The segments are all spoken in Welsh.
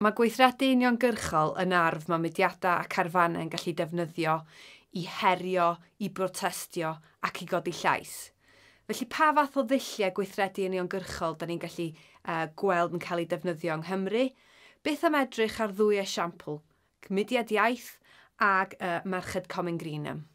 Mae gweithredu uniongyrchol yn arf mae mudiadau a carfannau'n gallu defnyddio i herio, i brotestio ac i godi llais. Felly pa fath o ddulliau gweithredu uniongyrchol da ni'n gallu gweld yn cael eu defnyddio yng Nghymru? Beth am edrych ar ddwy esiampl, Mudiad Iaith ag Merched Comin Greenham.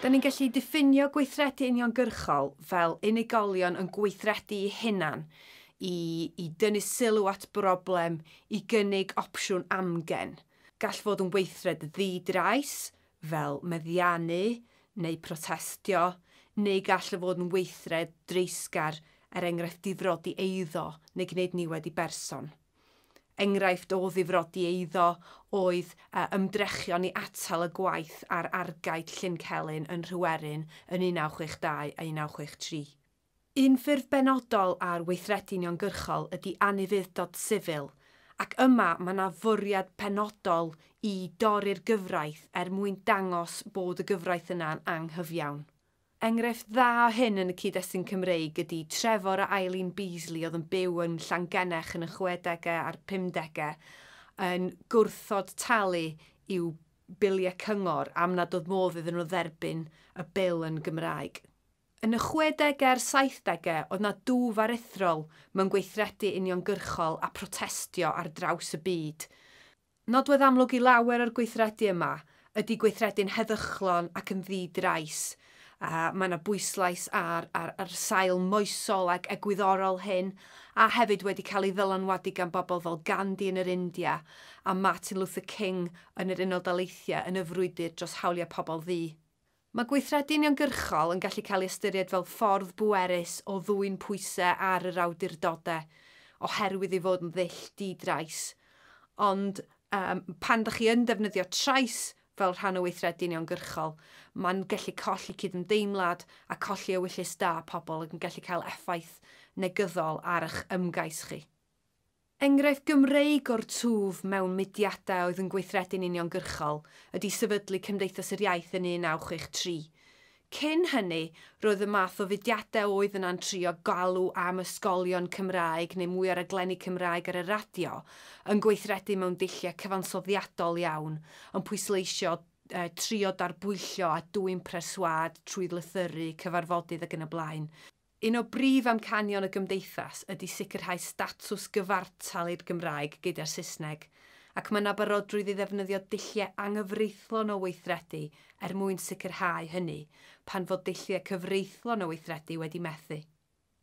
Da ni'n gallu diffinio gweithredu uniongyrchol fel unigolion yn gweithredu'u hunan i i dynnu sylw at broblem, i gynnig opsiwn amgen. Gall fod yn weithred ddi-drais, fel meddianu neu protestio, neu gall o fod yn weithred dreisgar, er enghraifft difrodi eiddo neu gwneud niwed i berson. Enghraifft o ddifrodi eiddo oedd ymdrechion i atal y gwaith ar argae Llyn Celyn yn Nhryweryn yn 1962 a 1963. Un ffurf benodol ar weithredu uniongyrchol ydi anufudd-dod sifil, ac yma mae 'na fwriad penodol i dorri'r gyfraith er mwyn dangos bod y gyfraith yna'n anghyfiawn. Enghraifft dda o hyn yn y cyd-destun Cymreig ydi Trefor a Eileen Beasley oedd yn byw yn Llangennech yn y chwedegau a'r pumdegau yn gwrthod talu i'w biliau cyngor am nad oedd modd iddyn nhw dderbyn y bil yn Gymraeg. Yn y chwedegau a'r saithdegau oedd 'na dwf aruthrol mewn gweithredu uniongyrchol a protestio ar draws y byd. Nodwedd amlwg i lawer o'r gweithredu yma ydy gweithredu'n heddychlon ac yn ddi-drais. Mae yna bwyslais ar yr sail moesol ac egwyddorol hyn, a hefyd wedi cael ei ddylanwadu gan bobl fel Gandhi yn yr India a Martin Luther King yn yr Unol Daleithiau yn y frwydr dros hawliau pobl ddu. Mae gweithredu uniongyrchol yn gallu cael ei ystyried fel ffordd bwerus o ddwyn pwysau ar yr awdurdodau oherwydd ei fod yn ddull di-drais. Ond pan ydych chi yn defnyddio trais fel rhan o weithredu uniongyrchol, mae'n gallu colli cydymdeimlad a colli ewyllys da pobl ac yn gallu cael effaith negyddol ar eich ymgais chi. Enghraifft Gymreig o'r twf mewn mudiadau oedd yn gweithredu'n uniongyrchol ydi sefydlu Cymdeithas yr Iaith yn 1963. Cyn hynny, roedd y math o fudiadau oedd yna'n trio galw am ysgolion Cymraeg neu mwy o raglenni Cymraeg ar y radio yn gweithredu mewn dulliau cyfansoddiadol iawn, yn pwysleisio, trio darbwyllo a dwyn preswâd trwy lythyru, cyfarfodydd ac yn y blaen. Un o brif amcanion y Gymdeithas ydy sicrhau statws gyfartal i'r Gymraeg gyda'r Saesneg, ac mae 'na barodrwydd i ddefnyddio dulliau anghyfreithlon o weithredu er mwyn sicrhau hynny, pan fod dulliau cyfreithlon o weithredu wedi methu.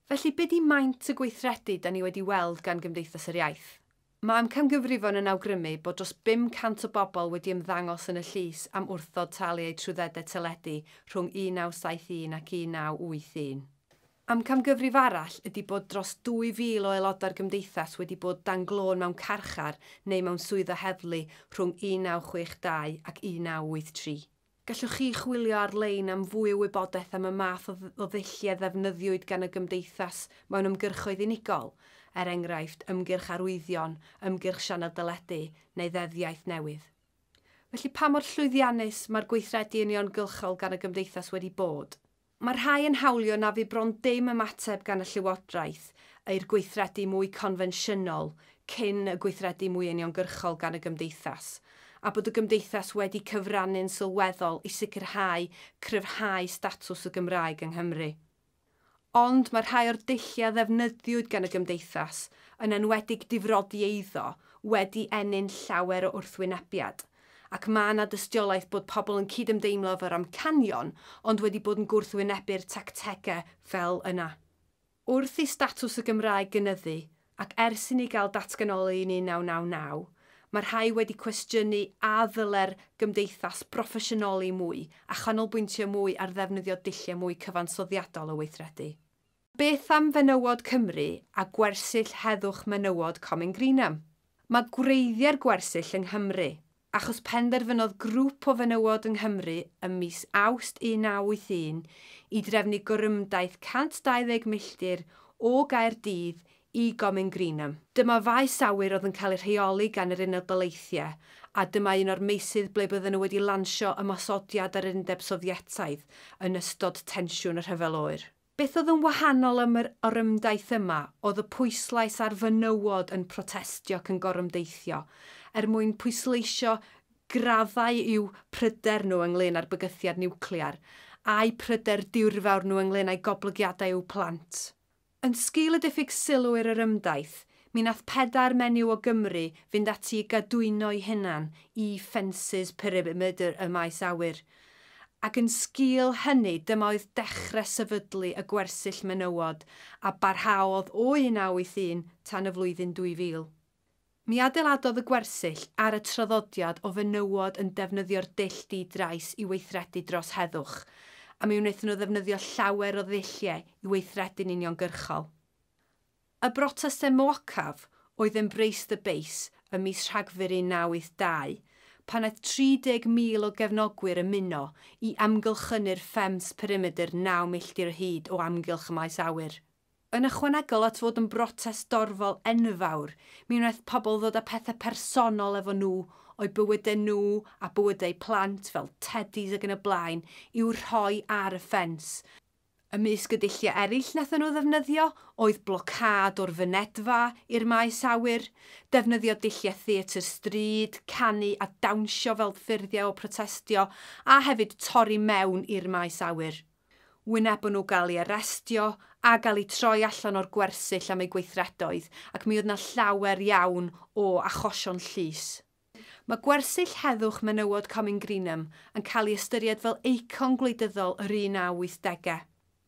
Felly, be 'di maint y gweithredu 'da ni wedi weld gan Gymdeithas yr Iaith? Mae amcangyfrifon yn awgrymu bod dros 500 o bobl wedi ymddangos yn y llys am wrthod talu eu trwyddedau teledu rhwng 1971 ac 1981. Amcangyfrif arall ydy bod dros 2,000 o aelodau'r Gymdeithas wedi bod dan glôn mewn carchar neu mewn swyddfa heddlu rhwng 1962 ac 1983. Gallwch chi chwilio ar-lein am fwy o wybodaeth am y math o ddulliau ddefnyddiwyd gan y Gymdeithas mewn ymgyrchoedd unigol, er enghraifft, ymgyrch arwyddion, ymgyrch sianel deledu, neu Ddeddf Iaith Newydd. Felly, pa mor llwyddiannus mae'r gweithredu uniongylchol gan y Gymdeithas wedi bod? Mae rhai yn hawlio na fu bron dim ymateb gan y Llywodraeth i'r gweithredu mwy confensiynol cyn y gweithredu mwy uniongyrchol gan y Gymdeithas, a bod y Gymdeithas wedi cyfrannu'n sylweddol i sicrhau cryfhau statws y Gymraeg yng Nghymru. Ond mae rhai o'r dulliau a ddefnyddiwyd gan y Gymdeithas, yn enwedig difrodi eiddo, wedi ennyn llawer o wrthwynebiad. ac mae yna dystiolaeth bod pobl yn cydymdeimlo efo'r amcanion ond wedi bod yn gwrthwynebu'r tactegau fel yna. Wrth i statws y Gymraeg gynyddu, ac ers i ni gael datganoli yn 1999, mae rhai wedi cwestiynu a ddyle'r gymdeithas broffesiynoli mwy a chanolbwyntio mwy ar ddefnyddio dulliau mwy cyfansoddiadol o weithredu. Beth am fenywod Cymru a gwersyll heddwch menywod Comin Greenham? Mae gwreiddiau'r gwersyll yng Nghymru, achos penderfynodd grŵp o fenywod yng Nghymru ym mis Awst 1981 i drefnu gorymdaith 120 milltir o Gaerdydd i Gomin Greenham. Dyma faes awyr oedd yn cael ei rheoli gan yr Unol Daleithiau, a dyma un o'r meysydd ble bydden nhw wedi lansio ymosodiad ar yr Undeb Sofietaidd yn ystod tensiwn y Rhyfel Oer. Beth oedd yn wahanol am yr orymdaith yma oedd y pwyslais ar fenywod yn protestio ac yn gorymdeithio er mwyn pwysleisio graddau i'w pryder nhw ynglŷn â'r bygythiad niwclear, a'u pryder diwrfawr nhw ynglŷn â'i goblygiadau i'w plant. Yn sgil y diffyg sylw i'r orymdaith, mi nath pedair menyw o Gymru fynd ati i gadwyno'i hunan i ffensys perimeter y maes awyr, Ac yn sgil hynny, dyma oedd dechrau sefydlu y gwersyll menywod a barhaodd o 1981 tan y flwyddyn 2000. Mi adeiladodd y gwersyll ar y traddodiad o fenywod yn defnyddio'r dull di-drais i weithredu dros heddwch, a mi wnaethon nhw ddefnyddio llawer o ddulliau i weithredu'n uniongyrchol. Y brotestau moacaf oedd Embrace the Base ym mis Rhagfyr 1982, pan aeth 30,000 o gefnogwyr ymuno i amgylchynu'r Femmes perimedr naw milltir o hyd o amgylch y maes awyr. Yn ychwanegol at fod yn brotest dorfol enfawr, mi wnaeth pobl ddod â pethau personol efo nhw, o'u bywydau nhw a bywydau eu plant, fel teddis ac yn y blaen, i'w rhoi ar y ffens, Ymysg y dulliau eraill nathon nhw ddefnyddio oedd blocâd o'r fynedfa i'r maes awyr, defnyddio dulliau theatr stryd, canu a dawnsio fel ffurfiau o protestio a hefyd torri mewn i'r maes awyr. Wynebon nhw gael ei arestio a gael eu troi allan o'r gwersyll am eu gweithredoedd ac mi oedd 'na llawer iawn o achosion llys. Mae gwersyll heddwch menywod Comin Greenham yn cael ei ystyried fel eicon gwleidyddol yr 1980au.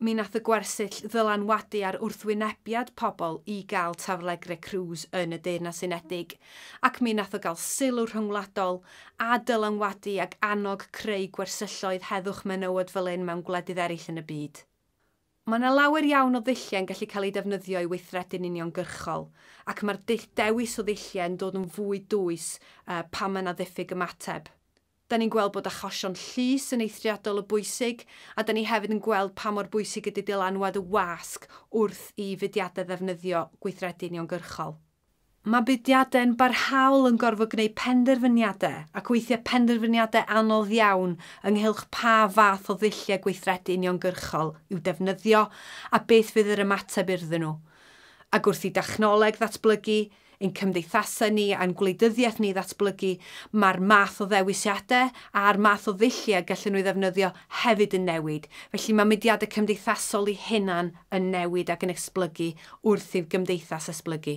Mi nath y gwersyll ddylanwadu ar wrthwynebiad pobl i gael taflegreu crws yn y Deyrnas Unedig, ac mi nath o gael sylw rhyngwladol, a dylanwadu ag annog creu gwersylloedd heddwch menywod fel hyn mewn gwledydd eraill yn y byd. Mae yna lawer iawn o ddulliau yn gallu cael eu defnyddio i weithredu'n uniongyrchol, ac mae'r dull dewis o ddulliau yn dod yn fwy dwys pan mae yna ddiffyg ymateb. Da ni'n gweld bod achosion llys yn eithriadol o bwysig, a da ni hefyd yn gweld pa mor bwysig ydy dylanwad y wasg wrth i fudiadau ddefnyddio gweithredu uniongyrchol. Mae mudiadau'n barhaol yn gorfod gwneud penderfyniadau, ac weithiau penderfyniadau anodd iawn, ynghylch pa fath o ddulliau gweithredu uniongyrchol i'w defnyddio a beth fydd yr ymateb urddyn nhw. Ac wrth i dechnoleg ddatblygu, ein cymdeithasau ni a'n gwleidyddiaeth ni ddatblygu, mae'r math o ddewisiadau a'r math o ddulliau gallen nhw ei ddefnyddio hefyd yn newid, felly mae mudiadau cymdeithasol eu hunain yn newid ac yn esblygu wrth i'r gymdeithas esblygu.